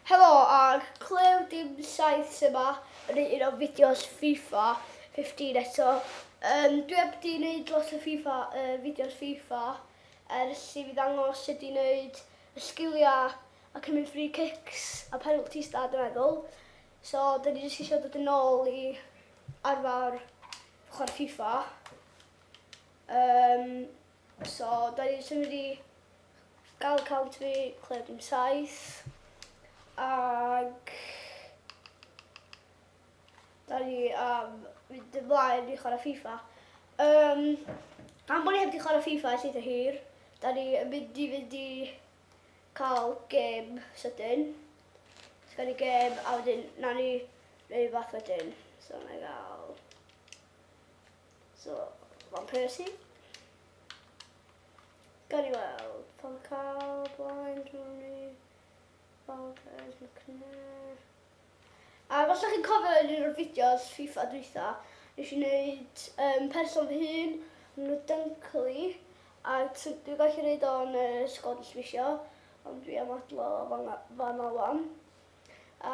Helo ag clywed dim saith sy ma yn un o fideos FIFA 15 eto. Um, dwi heb di wneud lot o FIFA, uh, fideos FIFA ers i fi ddangos sut i wneud y sgiliau a cymryd free kicks a penalties da dwi'n meddwl. So, dyn ni jyst eisiau dod yn ôl i arfer chwarae FIFA. Um, so, dyn ni jyst yn mynd i Gall cant fi clywed dim saith ag da ni am fynd ymlaen i chwarae FIFA. Um, am bod ni heb di chwarae FIFA ers eitha hir, da ni yn mynd i fynd i cael gêm sydyn. So ni gêm a wedyn na ni neu fath wedyn. So na i gael... So, Van Persie. Gawn ni weld. Van Gaal, Blaen, Rooney, Valdes, McNair. A falle chi'n cofio yn un o'r fideos FIFA dwytha, nes i wneud um, person fy hun, nhw Dunkley, a dwi'n gallu gwneud o'n uh, sgod ysbisio, ond dwi am adlo fan, fan alwan. A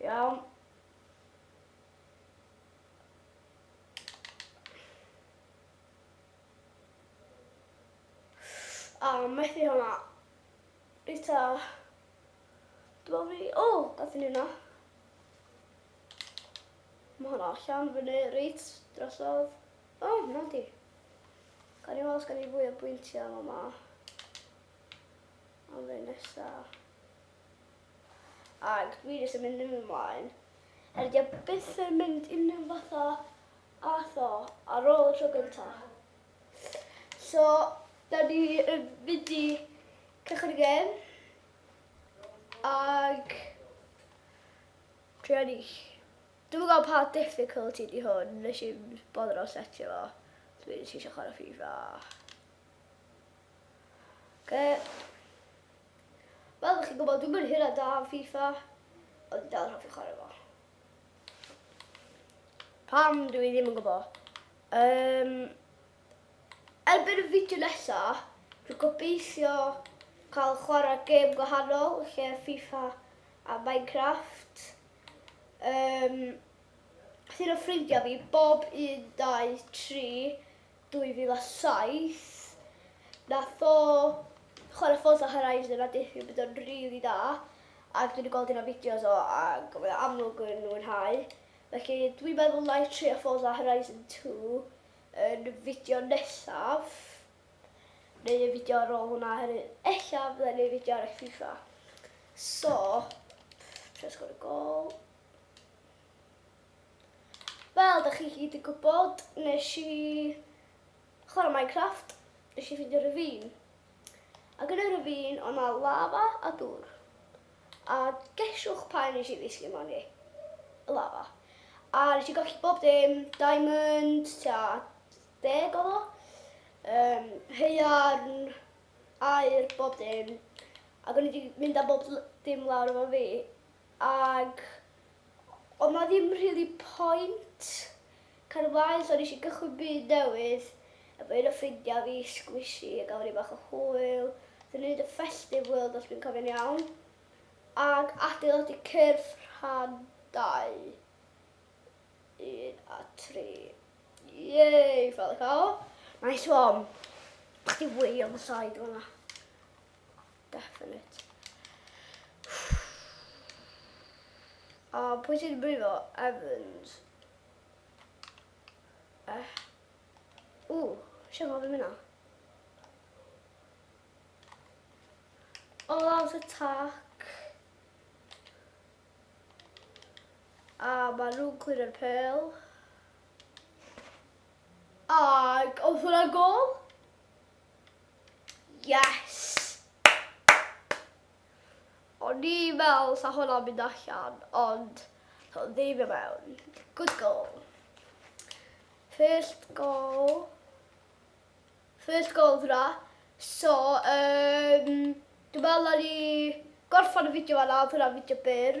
Iawn. A, oh, methu hwnna. Rita. Dwi'n fi... O, oh, gath ni hwnna. Mae hwnna allan fyny, reit, drosodd. O, oh, na di. Gan i weld, gan i fwy o bwyntiau yma. Am fe nesa. Ac fi jyst yn mynd yn ymlaen. Er di a byth yn mynd unrhyw fatha atho ar ôl y tro gynta. So, da ni yn mynd i cychwyn y gem. Ac... Dwi ar eich. Dwi'n gwybod pa difficulty di hwn, nes i'n bodro setio fo. Dwi'n eisiau chwarae FIFA. Oce. Fel chi'n gwybod, dwi'n mynd hir a da am FIFA, ond dwi'n dal yn hoffi chwarae fo. Pam dwi ddim yn gwybod? Um, erbyn y fideo nesa, dwi'n gobeithio cael chwarae gêm gwahanol lle FIFA a Minecraft. Um, Llun o ffrindiau fi, bob 1, 2, 3, 2007 nath o chware Forza Horizon a deuthio bod o'n rili dda ag dwi 'di gweld un o fideos o ag mae o amlwg yn mwynhau felly dwi'n meddwl na i trio Forza Horizon 2 yn y fideo nesaf neu y fideo ar ôl hwnna oherwydd ella fydda i'n neud fideo ar y FIFA so pff, trio sgorio'r gol Wel, da chi gyd yn gwybod, nes i chwarae Minecraft, nes i ffindio rhyfyn. Ac yn y rhyfyn, o'n na lava a dŵr. A gesiwch pa un nes i ddisgyn mewn i? Y lava. A nes i golli bob dim, diamond, tua deg oedd o, um, heiarn, air, bob dim. Ac o'n i wedi mynd â bob dim lawr efo fi, Ac oedd 'na ddim rili point cael y mlaen so nes i gychwyn byd newydd efo un o ffrindiau fi, Squishy, a gafon ni bach o hwyl. Naethon ni neud y festive world os dwi'n cofio'n iawn ac adeiladu cyrff rhan dau, un a tri. Yay! Fel y cow. Nice one. Chdi wylio fy side fan'na. Definite. A pwy sy'n brifo? Evans. Eh. Ww, sian gofyn mynd na. All out attack. A mae nhw'n cwyr y pel. Ac oedd hwnna gol? Yes! O'n i fel, sa hwnna'n mynd allan, ond so ddim i mewn. Good goal. First goal. First goal hwnna. So, um, dwi'n meddwl na ni gorffan y fideo fanna, oedd hwnna'n fideo byr.